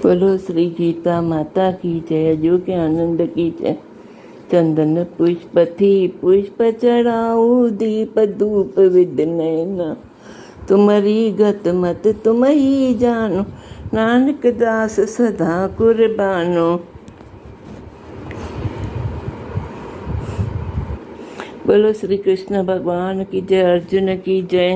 بولو شري گيتا ماتا ڪي جئه اڄو ڪي آنند ڪي جئه چندن پشپ ٿي پشپ چڙھائو ديپ ڌوپ وڌ نئنا تمھري گت مت تم ھي جانو نانڪ داس سدا قربانو بولو شري ڪرشن ڀڳوان ڪي جئه ارجن ڪي جئه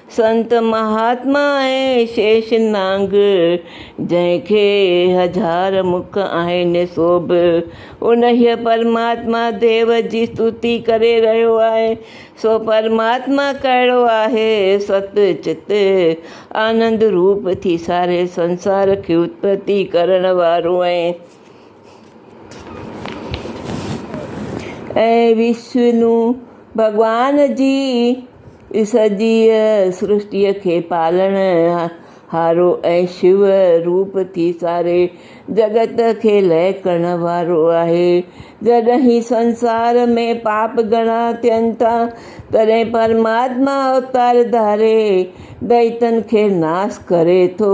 سنت مهاتما ۽ شيش نانگ، جنهن کي هزار مک آهن سو به انهيء پرماتما ديو جي استوتي ڪري رهيو آهي. سو پرماتما ڪهڙو آهي؟ ست چت آنند روپ ٿي ساري سنسار کي اتپتي ڪرڻ وارو ۽ وشنو ڀڳوان جي هي سڄيء سرشتيء کي پالڻ هارو ۽ شو روپ ٿي ساري جڳت کي لئه ڪرڻ وارو آهي. جڏهن هي سنسار ۾ پاپ گهڻا ٿين ٿا، تڏهن پرماتما اوتار ڌاري دئيتن کي ناس ڪري ٿو.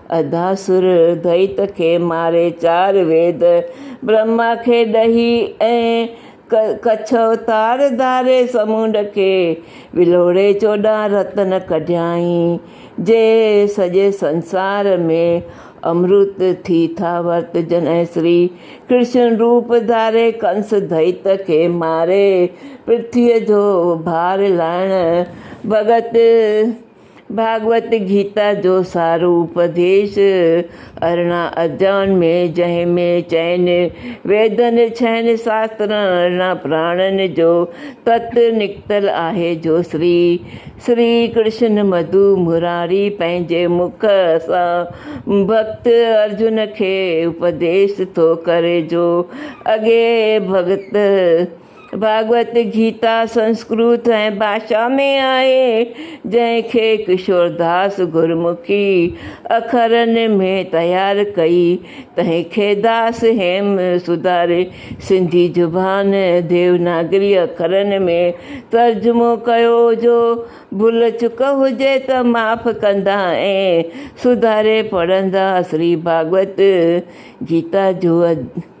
ادا سر ادويت کي ماري چار ويد برهما کي ڏهي ۽ ڪڇ اوتار ڌاري سمونڊ کي ولوڙي چوڏهن رتن ڪڍيائين جي سڄي سنسار ۾ امرت ٿي ٿا ورتجن ۽ سري ڪرشن روپ ڌاري ڪنس دويت کي ماري پرٿويء جو ڀار لاهڻ بابت ڀاڳوت گيتا جو سارو اپديش ارڙهن اڌيائن ۾، جنهن ۾ چئن ويدن، ڇهن شاسترن، ارڙهن پراڻن جو تت نڪتل آهي، جو شري شري ڪرشن مڌو مراري پنهنجي مک سان ڀڳت ارجن کي اپديش ٿو ڪري جو اڳي ڀڳت ڀاڳوت گيتا سنسڪرت ۽ ڀاشا ۾ آهي، جنهن کي ڪشورداس گرمکي اکرن ۾ تيار ڪئي، تنهن کي داس هيم سڌاري سنڌي زبان ديوناگري اکرن ۾ ترجمو ڪيو، جو ڀل چڪ هجي ته معاف ڪندا ۽ سڌاري پڙهندا، سري ڀاڳوت گيتا جو.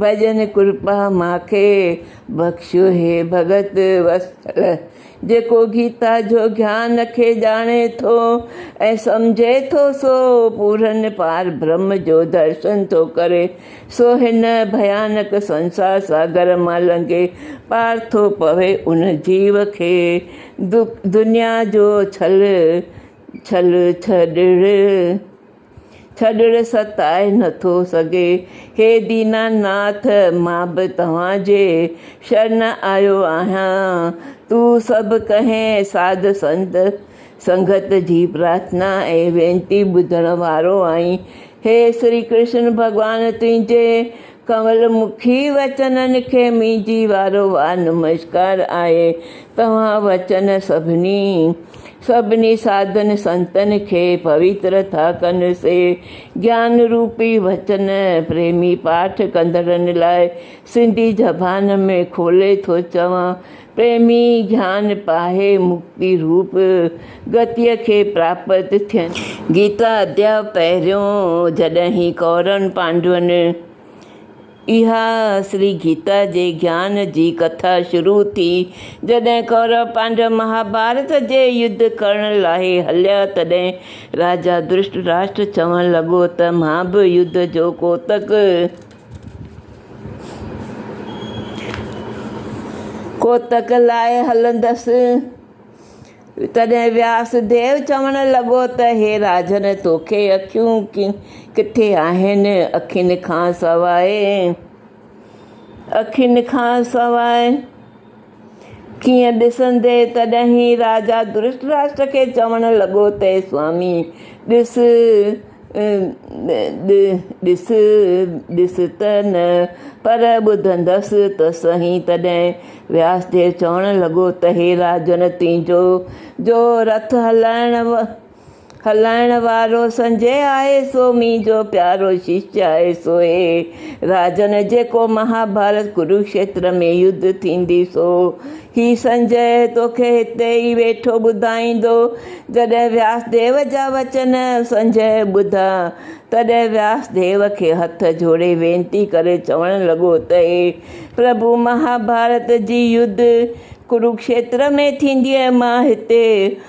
ڀڄن ڪرپا ماکي بخشيو هي ڀڳت وسطل جيڪو گيتا جو گيان کي ڄاڻي ٿو ۽ سمجهي ٿو سو پورن پار برهم جو درشن ٿو ڪري سو هن ڀيانڪ سنسار ساگر مان لنگهي پار ٿو پوي ان جيو کي دنيا جو ڇل ڇل ڇڏڻ ڇڏڻ ستائي نٿو سگهي. هي دينا ناٿ! مان به توهان جي شرن آيو آهيان. تون سڀ ڪنهن ساڌ سنت سنگت جي پرارٿنا ۽ وينتي ٻڌڻ وارو آهين. هي شري ڪرشن ڀڳوان تنهنجي ڪنول مکي وچنن کي منهنجي وارو وار نمشڪار آهي. توهان وچن سڀني، سڀني ساڌن سنتن کي پويتر ٿا ڪن، سي گيان روپي وچن پريمي پاٺ ڪندڙن لاء سنڌي زبان ۾ کولي ٿو چوان پريمي گيان پاهي مڪتي روپ گتيء کي پراپت ٿين. گيتا اديا پهريون جڏهين ڪورن پانڊون اها سري گيتا جي گيان جي ڪٿا شروع ٿي جڏهن ڪورو پانڊو مهاڀارت جي يڌ ڪرڻ لاء هليا تڏهن راجا درشٽ راشٽر چوڻ لڳو ته مان به يڌ جو ڪوتڪ ڪوتڪ لاء هلندس، تڏهن وياس ديو چوڻ لڳو ته هي راجن توکي اکيون ڪٿي آهن؟ اکين کان سواء کين ڏسندي تڏهن راجا ڌرتراشٽر کي چوڻ لڳو ته سوامي! ڏس ڏس ڏس ته نه پر ٻڌندس ته سهي. تڏهن وياس ديو چوڻ لڳو ته هي راجن تنهنجو جو رٿ هلائڻ هلائڻ وارو سنجهي آهي سو منهنجو پيارو ششيه آهي سو هي راجن جيڪو مهاڀارت ڪروکشيتر ۾ يڌ ٿيندي سو هي سنجهي توکي هتي ئي ويٺو ٻڌائيندو جڏهن وياس ديو جا وچن سنجهي ٻڌا تڏهن وياس ديو کي هٿ جوڙي وينتي ڪري چوڻ لڳو ته هي پرڀو مهاڀارت جي يڌ ڪروکشيتر ۾ ٿيندي ۽ مان هتي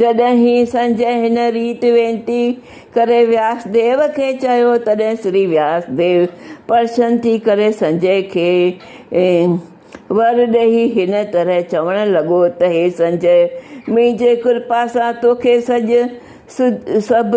جڏهن هي سنجهه هن ريت وينتي ڪري وياسديو کي چيو، تڏهن سري وياسديو پرسن ٿي ڪري سنجهه کي ور ڏيئي هن طرح چوڻ لڳو ته هي سنجهه! منهنجي ڪرپا سان توکي سڄ سڀ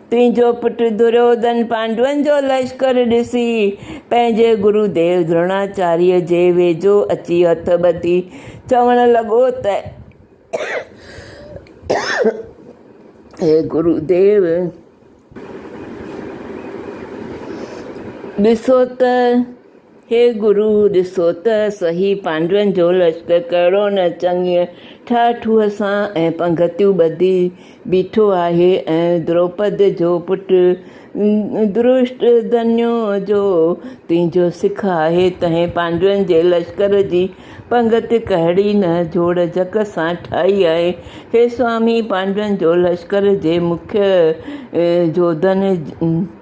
تنهنجو پٽ دروڌن پانڊون جو لشڪر ڏسي پنهنجي گرو ديو دروناچاريء جي ويجهو اچي هٿ ٻڌي چوڻ لڳو ته اي گرو ديو! ڏسو ته هي گرو! ڏسو ته سهي پانڊون جو لشڪر ڪهڙو نه چڱيء ٺاهه ٺوهه سان ۽ پنگهتيون ٻڌي بيٺو آهي ۽ دروپد جو پٽ درشٽڌنيء جو تنهنجو سک آهي، تنهن پانڊون جي لشڪر جي پنگهت ڪهڙي نه جوڙجڪ سان ٺاهي آهي. هي سوامي! پانڊون جو لشڪر جي مکيه جوڌن،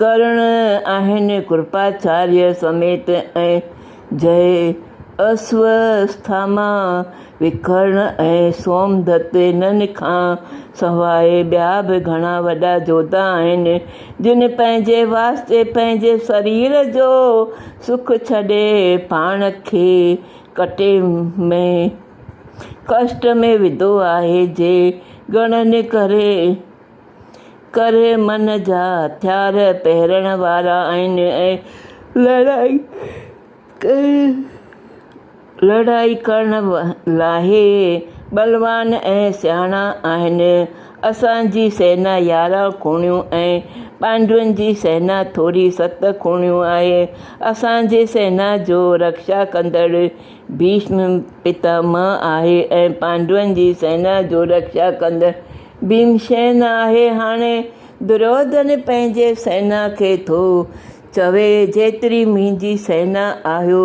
ڪرڻ آهن ڪرپاچاريه سميت ۽ جهي اسوٿاما وکرڻ ۽ سومدت هنن کان سواء ٻيا به گهڻا وڏا جوڌا آهن جن پنهنجي واسطي پنهنجي سرير جو سک ڇڏي پاڻ کي ڪٽي ۾ ڪشٽ ۾ وڌو آهي جي گڻن ڪري ڪري من جا هٿيار پهرڻ وارا آهن ۽ لڙائي ڪرڻ لاهي ٻلوان ۽ سياڻا آهن. اسان جي سينا يارهن کوڻيون ۽ پانڊون جي سينا ٿوري ست کوڻيون آهي. اسان جي سينا جو رڪشا ڪندڙ ڀيشم پتاماهه آهي ۽ پانڊون جي سينا جو رڪشا ڪندڙ ڀيمسين آهي هاڻي دريودن پنهنجي سينا کي ٿو چوي، جيتري منهنجي سينا آهيو،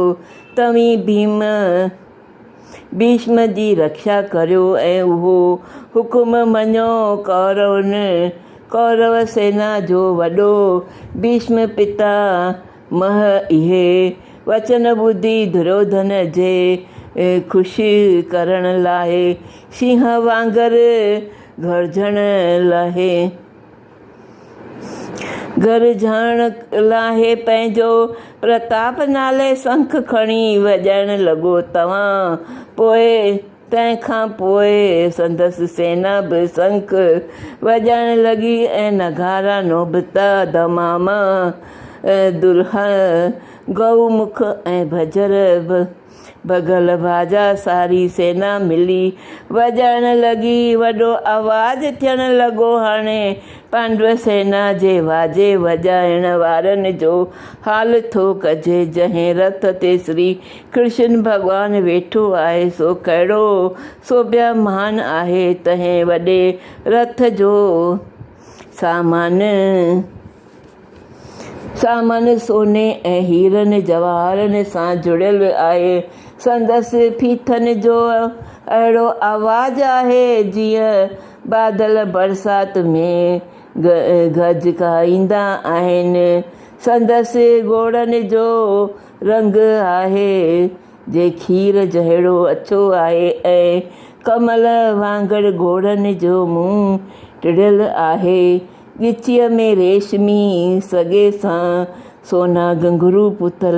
توهين ڀيم، ڀيشم، جي رڪشا ڪريو ۽ اهو حڪم مڃو، ڪورون، ڪورو سينا جو وڏو، ڀيشم پتا، مئه اهي وچن ٻڌي دروڌن جي خوش ڪرڻ لاء شينهن وانگر گرجهڻ لاهي. گرجهڻ لاهي پنهنجو پرتاپ نالي سنک کڻي وڄائڻ لڳو توهان پوء. تنهن کان پوء سندس سينا به سنک وڄائڻ لڳي ۽ نغارا، نوبتا، دماما، درهه، گئو مک ۽ ڀجر، بگهل باجا ساري سينا ملي وڄائڻ لڳي. وڏو آواز ٿيڻ لڳو. هاڻي پانڊو سينا جي واجي وڄائڻ وارن جو حال ٿو ڪجي، جنهن رٿ تي سري ڪرشن ڀڳوان ويٺو آهي سو ڪهڙو، سو بيهمان آهي تنهن وڏي رٿ جو سامان، سامان سوني ۽ هيرن جواهرن سان جڙيل آهي، سندس ڦيٿن جو اهڙو آواز آهي جيئن بادل برسات ۾ گهجڪائيندا آهن، سندس ڳوڙهن جو رنگ آهي جي کير جهڙو اڇو آهي ۽ ڪمل وانگر گهوڙن جو منهن ٽڙيل آهي. ڳچيء ۾ ريشمي سڳي سان سونا گهنگهرو پتل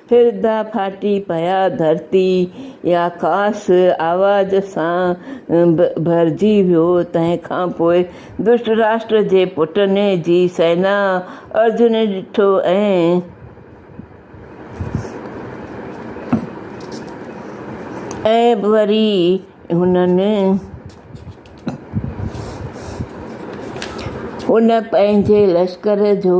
فردا ڦاٽي پيا ڌرتي يا خاص آواز سان ڀرجي ويو تنهن کان پوء ڌرتراشٽر جي پٽن جي سينا ارجن ڏٺو ۽ وري هنن پنهنجي لشڪر جو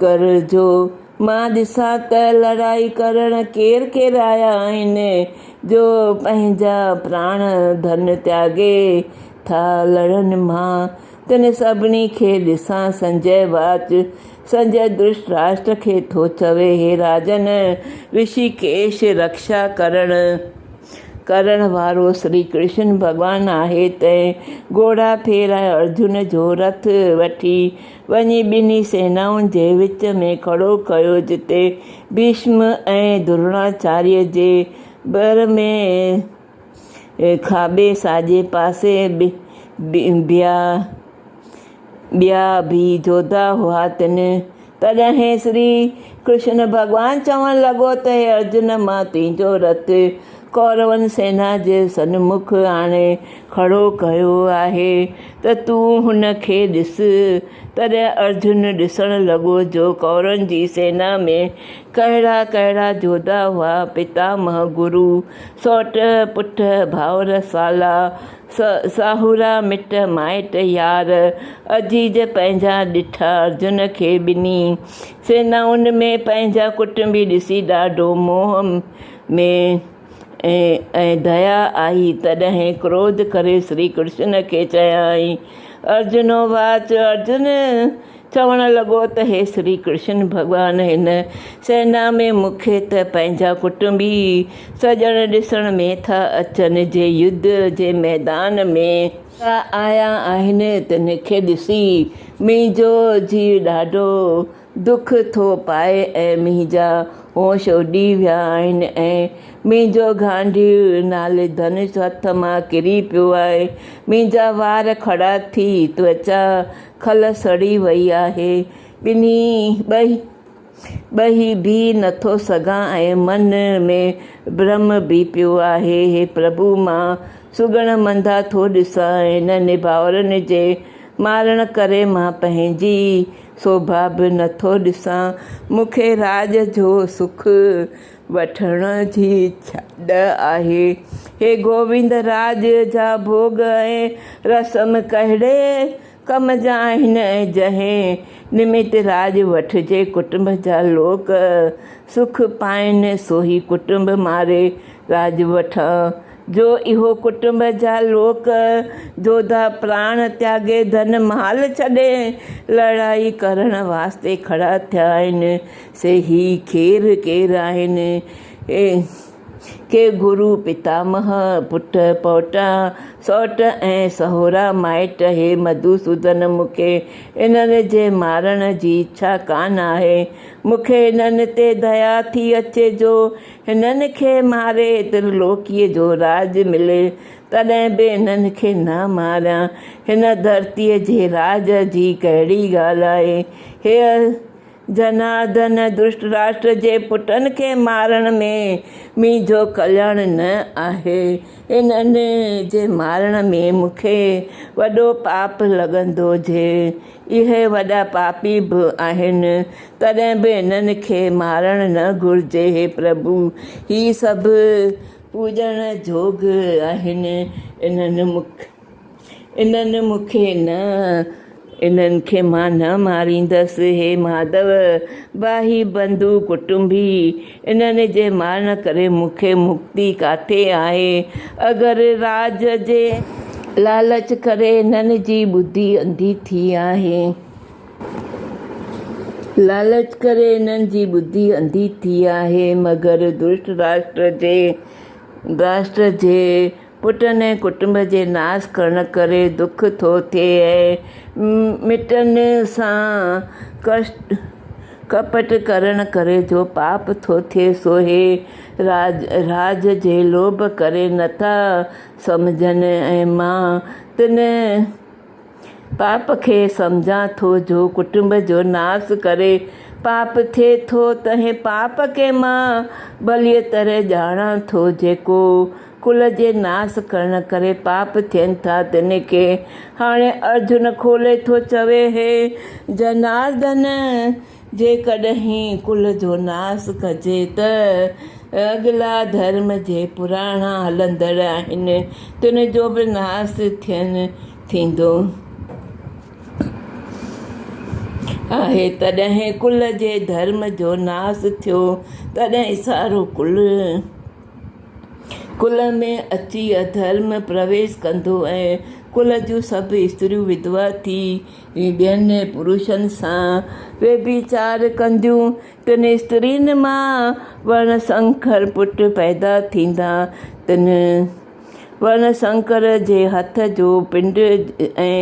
ڪر جو مان ڏسان ته لڙائي ڪرڻ ڪير ڪير آيا آهن، جو پنهنجا پراڻ ڌن تياڳي ٿا لڙن، مان تن سڀني کي ڏسان. سنجئه واچ، سنجئه ڌرتراشٽر کي ٿو چوي، هي راجن! رشيڪيش رڪشا ڪرڻ ڪرڻ وارو شري ڪرشن ڀڳوان آهي، تنهن گهوڙا ڦير ۽ ارجن جو رٿ وٺي، وڃي ٻنهي سينائن جي وچ ۾ کڙو ڪيو، جتي ڀيشم ۽ دروناچاريء جي ڀر ۾ کاٻي ساڄي پاسي ٻيا به جوڌا هئا. تڏهن شري ڪرشن ڀڳوان چوڻ لڳو ته هي ارجن! مان تنهنجو رٿ ڪورون سينا جي سنمک آڻي کڙو ڪيو آهي. ته تون هن کي ڏس. تڏهن ارجن ڏسڻ لڳو جو ڪورن جي سينا ۾ ڪهڙا ڪهڙا جوڌا هئا، پتامه، گرو، سؤٽ، پٽ، ڀائر، سالا، ساهورا، مٽ مائٽ، يار، عزيز پنهنجا ڏٺا. ارجن کي ٻنهي سينائن ۾ پنهنجا ڪٽنبي ڏسي ڏاڍو موهه ۾. ۽ ديا آئي، تڏهن ڪروڌ ڪري شري ڪرشن کي چيائين، ارجنوواچ، ارجن چوڻ لڳو ته هي شري ڪرشن، ڀڳوان هن سينا ۾ مون کي ته پنهنجا ڪٽنبي سڄڻ ڏسڻ ۾ ٿا اچن، جي يڌ جي ميدان ۾ ٿا آيا آهن، تن کي ڏسي منهنجو جيء ڏاڍو. دک ٿو پائي ۽ منهنجا هوش اڏي ويا آهن ۽ منهنجو گانڊيء نالي ڌنش هٿ مان ڪري پيو آهي. منهنجا وار کڙا ٿي، توچا کل سڙي وئي آهي. ٻنهي ٻهي ٻهي به نٿو سگهان ۽ من ۾ برهم به پيو آهي. هي پرڀو! مان سگهڙ منڌا ٿو ڏسان ۽ هنن ڀائرن جي مارڻ ڪري مان پنهنجي سوڀا به نه ٿو ڏسان، مون کي راڄ جو سک وٺڻ جي ڏھ آهي. هي گووند، راڄ جا ڀوڳ ۽ رسم ڪهڙي ڪم جا آهن ۽ جنهن نمت راڄ وٺجي ڪٽنب جا لوڪ سک پائن، سوهي ڪٽنب ماري راڄ وٺان. جو اهو ڪٽنب جا لوڪ جوڌا پراڻ تياڳي ڌن مال ڇڏي لڙائي ڪرڻ واسطي کڙا ٿيا آهن سي هي کير ڪير آهن ڪي گرو پتامه پٽ پوٽا سئوٽ ۽ سهورا مائٽ هي مڌوسودن مون کي انهن جي مارڻ جي اڇا ڪانه آهي مون کي انهن تي ديا ٿي اچي جو هنن کي ماري ترلوڪيء جو راڄ ملي، تڏهن به انهن کي نه ماريان، هن ڌرتيء جي راڄ جي ڪهڙي ڳالهه آهي؟ هيء جناڌن ڌرتراشٽر جي پٽن کي مارڻ ۾ منهنجو ڪلياڻ نه آهي، انهن جي مارڻ ۾ مون کي وڏو پاپ لڳندو جي اهي وڏا پاپي به آهن تڏهن به انهن کي مارڻ نه گهرجي هي پرڀو هي سڀ پوڄڻ جوڳ آهن انهن انهن مون کي نه انهن کي مان نه ماريندس هي ماڌو باهي بنڌو ڪٽنبي انهن جي مارڻ ڪري مون کي مڪتي ڪاٿي آهي؟ اگر راڄ جي لالچ ڪري انهن جي ٻڌي انڌي ٿي آهي. لالچ ڪري انهن جي ٻڌي انڌي ٿي آهي. مگر ڌرتراشٽر جي، راشٽر جي، پٽن ۽ ڪٽنب جي ناس ڪرڻ ڪري دک ٿو ٿئي ۽ مٽن سان ڪپٽ ڪرڻ ڪري جو پاپ ٿو ٿئي سو هي راج جي لوڀ ڪري نٿا سمجهن ۽ مان تن پاپ کي سمجهان ٿو جو ڪٽنب جو ناس ڪري پاپ ٿئي ٿو، تنهن پاپ کي مان ڀليء طرح ڄاڻان ٿو، جيڪو ڪل جي ناس ڪرڻ ڪري پاپ ٿين ٿا، تن کي. هاڻي ارجن کولي ٿو چوي، هي جناردن! جيڪڏهن ڪل جو ناس ڪجي ته اڳلا ڌرم جي پراڻا هلندڙ آهن تن جو به ناس ٿين ٿيندو آهي تڏهن ڪل جي ڌرم جو ناس ٿيو تڏهن سارو ڪل ڪل ۾ اچي اڌرم پرويش ڪندو ۽ ڪل جون سڀ استريون وڌوا ٿي هي ٻين پروشن سان ويڀيچار ڪنديون، تن استرين مان ورڻ سنڪر پٽ پيدا ٿيندا، تن ورڻ سنڪر جي هٿ جو پنڊ ۽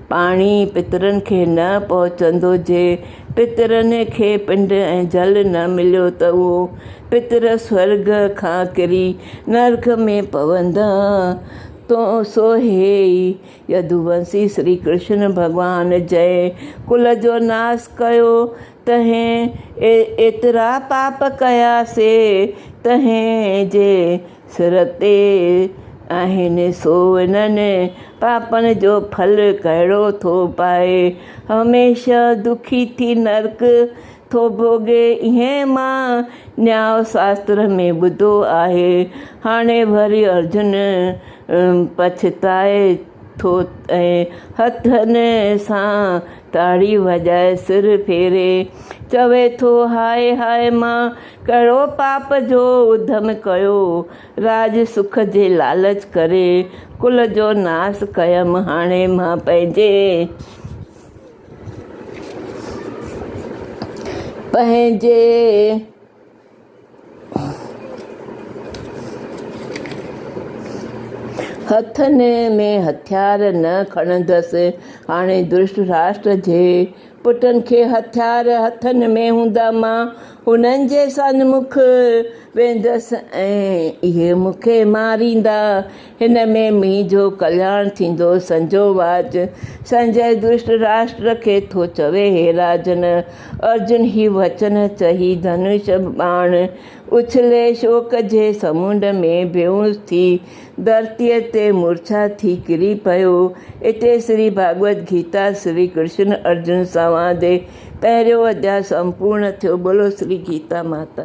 پاڻي پترن کي نه پهچندو، جي پترن کي پنڊ ۽ جل نه مليو ته اهو پتر سورڳ کان ڪري نرڪ ۾ پوندا، سو هي ئي يدوونسي شري ڪرشن ڀڳوان جنهن ڪل جو ناس ڪيو، تنهن ايترا پاپ ڪيا سي تنهن جي سر تي آهن، سو انهن پاپن جو ڦل ڪهڙو ٿو پائي؟ هميشه دکي ٿي نرڪ ٿو ڀوڳي، ائين مان نياء شاستر ۾ ٻڌو آهي. هاڻي وري ارجن پڇتائي ٿو ۽ هٿن سان تاڙي وڄائي سر ڦيري چوي ٿو، هاء هاء مان ڪهڙو پاپ جو اڌم ڪيو، راڄ سک جي لالچ ڪري ڪل جو ناس ڪيم، هاڻي مان پنهنجي. هٿن ۾ هٿيار نه کڻندس. هاڻي ڌرتراشٽر جي پٽن کي هٿيار هٿن ۾ هوندا مان هنن جي سنمک ويندس ۽ اهي مون کي ماريندا. هن ۾ مينهن جو ڪلياڻ ٿيندو سنجو واچ سنجئه درشٽ راشٽر کي ٿو چوي هي راجن ارجن هي وچن چهي ڌنوش ٻاڻ اڇلي شوڪ جي سمنڊ ۾ بيهوس ٿي ڌرتيء تي مورڇا ٿي ڪري پيو اتي شري ڀاڳوت گيتا شري ڪرشن ارجن سنواد پهريون اڌياء سمپورڻ ٿيو بولو شري گيتا ماتا